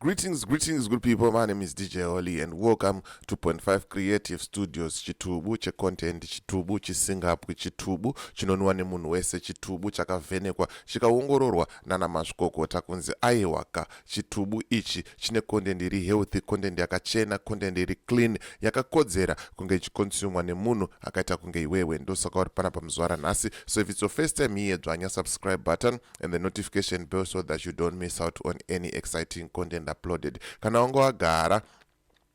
Greetings, greetings good people, my name is DJ Holly and welcome to 2.5 Creative Studios chitubu checontent chitubu chisingapwi chitubu chinonwa nemunhu wese chitubu chakavhenekwa chikaongororwa nana mazvikokota kunzi aiwaka chitubu ichi chine content iri healthy content yakachena content iri clean yakakodzera kunge ichikonsumwa nemunhu akaita kunge iwewe ndosaka uri pana pamuzuva ranhasi so if it's your first time here dzvanya subscribe button and the notification bell so that you don't miss out on any exciting content uploaded kana wange wagara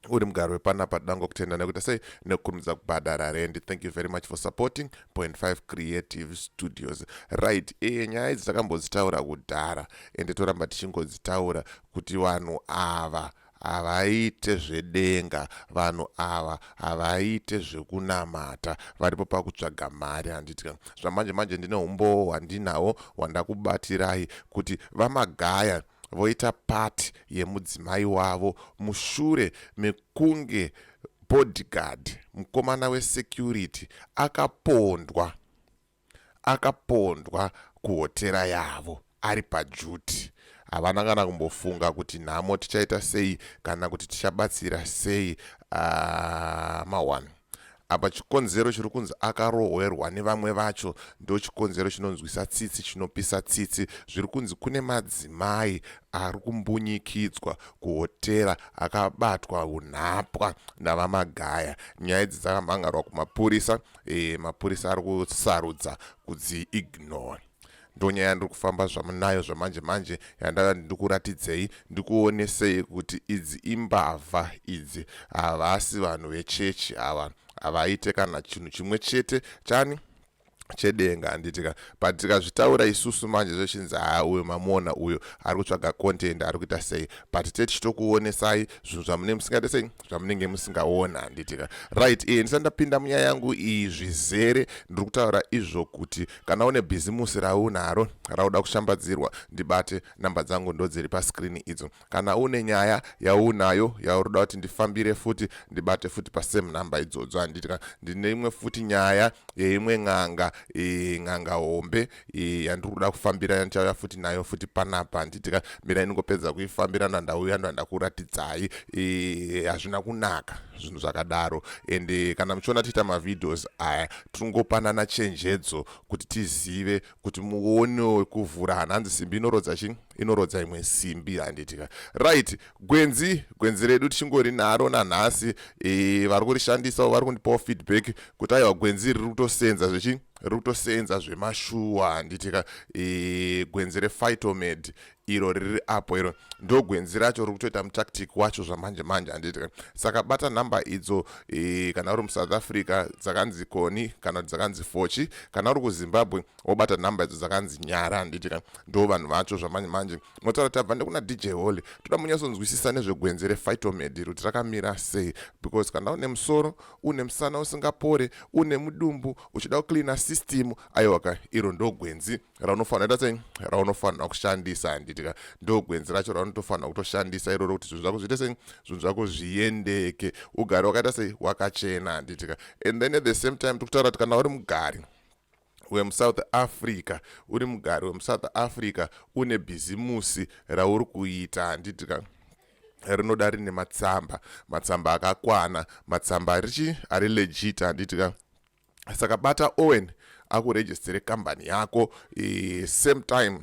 uri mugari wepanapa toda ngokutenda nekuita sei nekukurumidza kubhadhara rendi thank you very much for supporting point 5 creative studios right e nyaya idzi takambodzitaura kudhara ende toramba tichingodzitaura kuti vanhu ava Havaite zvedenga vanhu ava havaite zvekunamata varipo pakutsvaga mari handiti ka zvamanje manje ndine humbowo hwandinawo hwandakubatirai kuti vamagaya voita part yemudzimai wavo mushure mekunge bodyguard mukomana wesecurity akapondwa akapondwa kuhotera yavo ari pajuti. Havana kana kumbofunga kuti nhamo tichaita sei kana kuti tichabatsira sei uh, mawan apa chikonzero chiri kunzi akarohwerwa nevamwe vacho ndo chikonzero chinonzwisa tsitsi chinopisa tsitsi zviri kunzi kune madzimai ari kumbunyikidzwa kuhotera akabatwa unhapwa navamagaya nyaya idzi dzakamhangarwa kumapurisa e, mapurisa ari kusarudza kudzi ignore ndonyaya ndiri kufamba zvamunayo zvamanje manje yandava ndikuratidzei ndikuonesei kuti idzi imbavha idzi havasi vanhu vechechi ava havaite kana chinhu chimwe chete chani chedenga handitika but tikazvitaura isusu manje zvechinzi haa uyo mamuona uyo ari kutsvaga content ari kuita sei but tetichitokuonesai zvinhu zvamune musingade sei zvamunenge musingaona handitika right e ndisati ndapinda munyaya yangu iyi zvizere ndiri kutaura izvo kuti kana une bhizimusi raunaro rauda kushambadzirwa ndibate namba dzangu ndodziri pascrini idzo kana une nyaya yaunayo yauroda kuti ndifambire futi ndibate futi pasame namba idzodzo handitika ndine imwe futi nyaya yeimwe n'anga e, n'anga hombe iyi yandiri kuda kufambira yandichauya futi nayo futi panapa handiti ka mira iningopedza kuifambira ndandauya ndandakuratidzai hazvina kunaka zvinhu zvakadaro and eh, kana muchiona tiita mavideos aya tingopanana chenjedzo kuti tizive kuti muone wekuvhura hanhanzi simbi inorodza chii inorodza imwe simbi handitika right gwenzi gwenzi redu tichingori naro nanhasi e, vari kurishandisawo vari kundipawo feedback kuti aiwa gwenzi riri kutosenza zvechi riri kutoseenza zvemashuwa handiti ka e, gwenzi refightomed iro riri apo iro ndo gwenzi racho riri kutoita mutactic wacho zvamanje manje handiti ka saka bata nhamba idzo e, kana uri musouth africa dzakanzi koni kana kuti dzakanzi fochi kana uri kuzimbabwe wobata nhamba idzo dzakanzi nyara handiti ka ndo vanhu vacho zvamanje manje motaura kuti tabva ndekuna dj holy toda munyatsonzwisisa nezvegwenzi refightomed iro kuti rakamira sei because kana une musoro une musana usingapore une mudumbu uchida kucleana system aiwaka iro ndo gwenzi raunofanira ita sei raunofanira kushandisa handitika ndo gwenzi racho raunotofanira kutoshandisa iroro kuti zvinhu zvako zviite sei zvinhu zvako zviendeke ugari wakaita sei wakachena handitika and then at the same time tikutaura kuti kana uri mugari wemusouth africa uri mugari wemusouth africa une bhizimusi rauri kuita handiti ka rinoda rine matsamba matsamba akakwana matsamba arichi ari legit handiti ka saka bata owen akuregistere kambani yako e, same time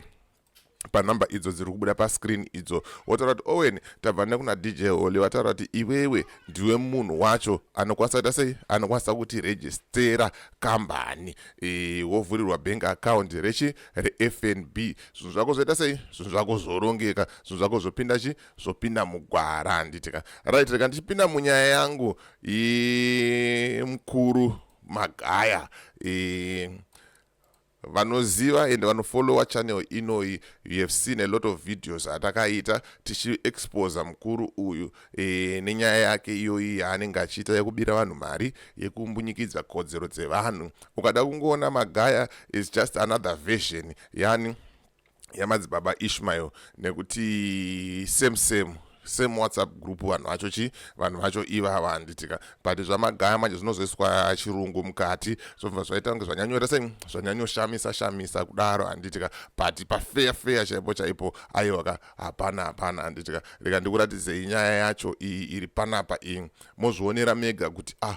panumber idzo dziri kubuda pascreen idzo wotaura kuti owen tabva nekuna dj holy vataura kuti iwewe ndiwe munhu wacho anokwanisa kuita sei anokwanisa kuti registera kambani e, wovhurirwa bank account rechi refnb zvinhu zvako zvoita sei zvinhu zvako zvorongeka zvinhu zvako zvopinda chi zvopinda mugwara handitika right reka ndichipinda munyaya yangu mukuru magaya e, vanoziva and vanofollower channel inoyi you have seen a lot of videos atakaita tichiexposa mukuru uyu e, nenyaya yake iyoyi yaanenge achiita yekubira vanhu mari yekumbunyikidza kodzero dzevanhu ukada kungoona magaya is just another version yani yamadzibaba ishmael nekuti same same same whatsapp group vanhu vacho chi vanhu vacho ivava handitika but zvamagaya manje zvinozoiswa chirungu mukati zvobva zvaita kunge zvanyanyoita sei zvanyanyoshamisa shamisa kudaro handitika but pafeya feya chaipo chaipo aiwaka hapana hapana handitika reka ndikuratidzei nyaya yacho iyi iri panapa iyi mozvionera mega kuti ah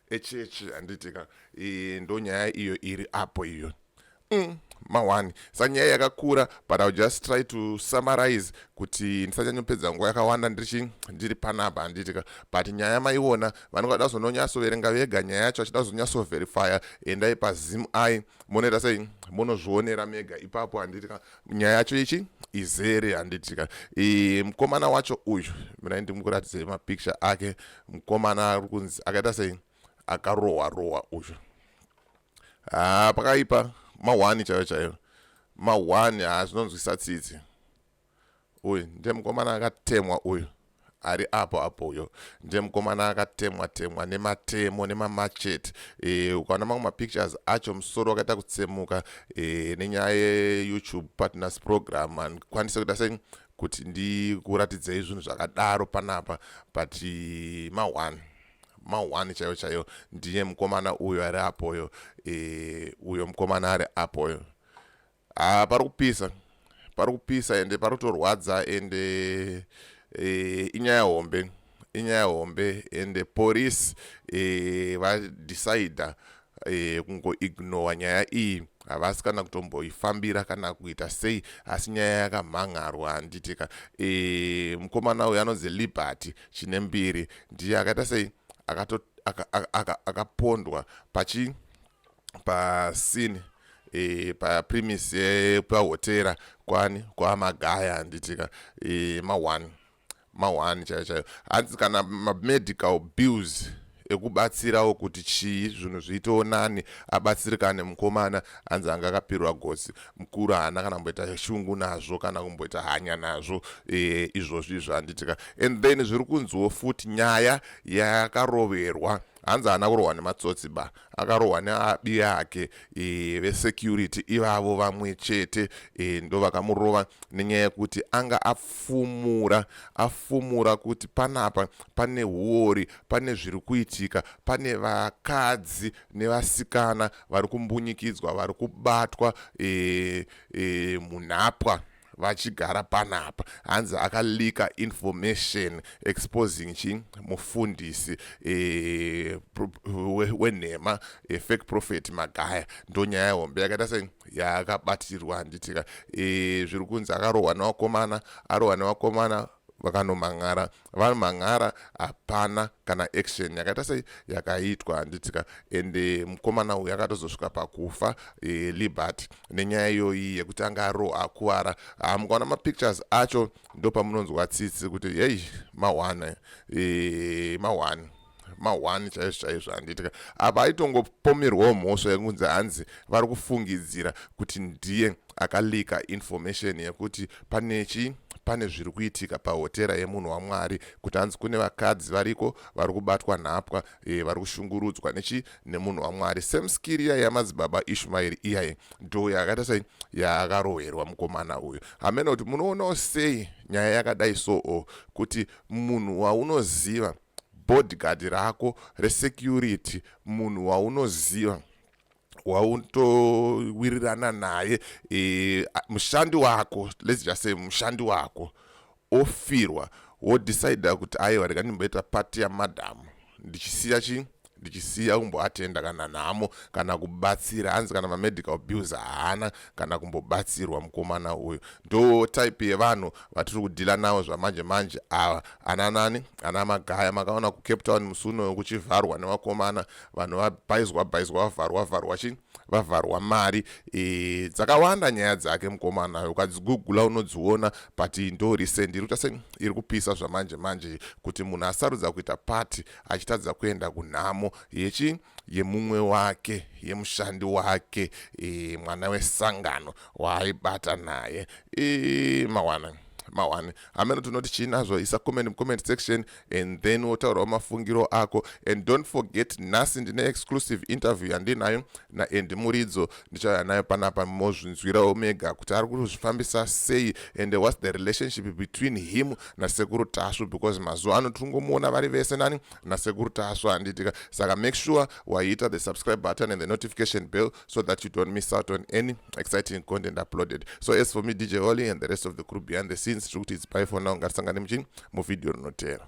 echechi handiti ka e, ndonyaya iyo iri apo iyo mm, mawani sanyaya yakakura but ill just try to summarize kuti ndisanyanyopedza nguva yakawanda ndirichi ndiri panapa handiti ka but nyaya maiona vanenge vada kuzononyatsoverenga vega nyaya yacho vachida kuzonyatsoverifya endai pazim i monoita sei monozvionera mega ipapo handiti ka nyaya yacho ichi izere handitika e, mukomana wacho uyu mirai ndimukuratidze mapicture ake mukomana ari kunzi akaita sei akarohwa rohwa uyu haa pakaipa mahwani chaiyo chaiyo mahwani haa zvinonzwisa tsitsi uyu ndiye mukomana akatemwa uyu ari apo apo uyo ndiye mukomana akatemwa temwa nematemo nemamachete e, ukaona mamwe mapictures acho musoro wakaita kutsemuka e, nenyaya yeyoutube partners program andikwanise kuita sei kuti ndikuratidzei zvinhu zvakadaro panapa but ma1 ma1 chaiyo chaiyo ndiye mukomana uyo ari apoyo e, uyo mukomana ari apoyo Haa parikupisa parikupisa ende parutorwadza ende e, inyaya hombe inyaya hombe ende police e, vadecider e, kungoignora nyaya iyi havasi kana kutomboifambira kana kuita sei asi nyaya yakamhan'arwa handitika e, mukomana uyu anonzi liberty chine mbiri ndiye akaita sei akapondwa aka, aka, aka pachi pasini e, paprimis pahotera kwani kwamagaya handitika e, maone maone chaiyo chaiyo hanzi kana mamedical bills ekubatsirawo kuti chii zvinhu zviitewo nani abatsirikane mukomana anzi anga akapirwa gosi mukuru haana kana kumboita shungu nazvo kana kumboita hanya nazvo e, izvozvo izvo handitika and then zviri kunziwo futi nyaya yakaroverwa hanzi haana kurohwa nematsotsi ba akarohwa neabi yake e, vesecurity ivavo vamwe chete e, ndo vakamurova nenyaya yekuti anga afumura afumura kuti panapa pane huori pane zviri kuitika pane vakadzi nevasikana vari kumbunyikidzwa vari kubatwa e, e, munhapwa vachigara panapa hanzi akalika information exposing chi mufundisi e, wenhema e, fake prophet magaya ndonyaya hombe yakaita sei yakabatirwa handitika e, zviri kunzi akarohwa nevakomana arohwa nevakomana vakanomhan'ara vanomhan'ara hapana kana action yakaita sei yakaitwa handitsika ende mukomana uyu akatozosvika pakufa e, liberty nenyaya iyoyi yekuti anga aro akuvara ah, mukaona mapictures acho ndopamunonzwa tsitsi kuti hei mahwana e, mahwani mahwani chaizvo chaizvo handiitika apa aitongopomerwawo mhosva yekunzi hanzi vari kufungidzira kuti ndiye akalika information yekuti pane chi pane zviri kuitika pahotera yemunhu wamwari kuti hanzi kune vakadzi variko vari kubatwa nhapwa e, vari kushungurudzwa nechi nemunhu wamwari same skiri iya yamadzibaba ishumairi iyaye ndo yakaita sei yaakarohwerwa mukomana uyu hameno kuti munoonawo sei nyaya yakadai soo kuti munhu waunoziva so, bodyguard rako resecurity munhu waunoziva wautowirirana naye e, mushandi wako let's just say mushandi wako ofirwa wodecida kuti aiwa rega ndimboita pati yamadhamu ndichisiya chi ndichisiya kumboatenda kana nhamo kana kubatsira hanzi kana mamedical bills haana kana kumbobatsirwa mukomana uyu ndo type yevanhu vatiri kudhila navo zvamanje manje ava ana nani ana magaya makaona kucape town musi unoyo kuchivharwa nevakomana vanhu vabhaizwa bhaizwa vavharwa vharwa chii vavharwa mari e, dzakawanda nyaya dzake mukomana ukadzigugula unodziona but ndo recent iri kuita se iri kupisa zvamanje manje kuti munhu asarudza kuita pati achitadza kuenda kunhamo yechi yemumwe wake yemushandi wake e, mwana wesangano waaibata naye e, mawana mawani hameno tinoti chii nazvo isa comment mucomment section and then wotaurawo mafungiro ako and don't forget nhasi ndine exclusive interview yandinayo naEndy Muridzo ndichauya nayo panapa mozvinzwirawo mega kuti ari kuzvifambisa sei and whats the relationship between him nasekuru tasvu because mazuva ano tiri kungomuona vari vese nani nasekuru tasvu handitika saka make sure waiita the subscribe button and the notification bell so that you don't miss out on any exciting content uploaded so as for me dj holly and the rest of the crew behind the scenes tiri kuti it's by for now ngatisangane muchini muvhidhiyo rinotera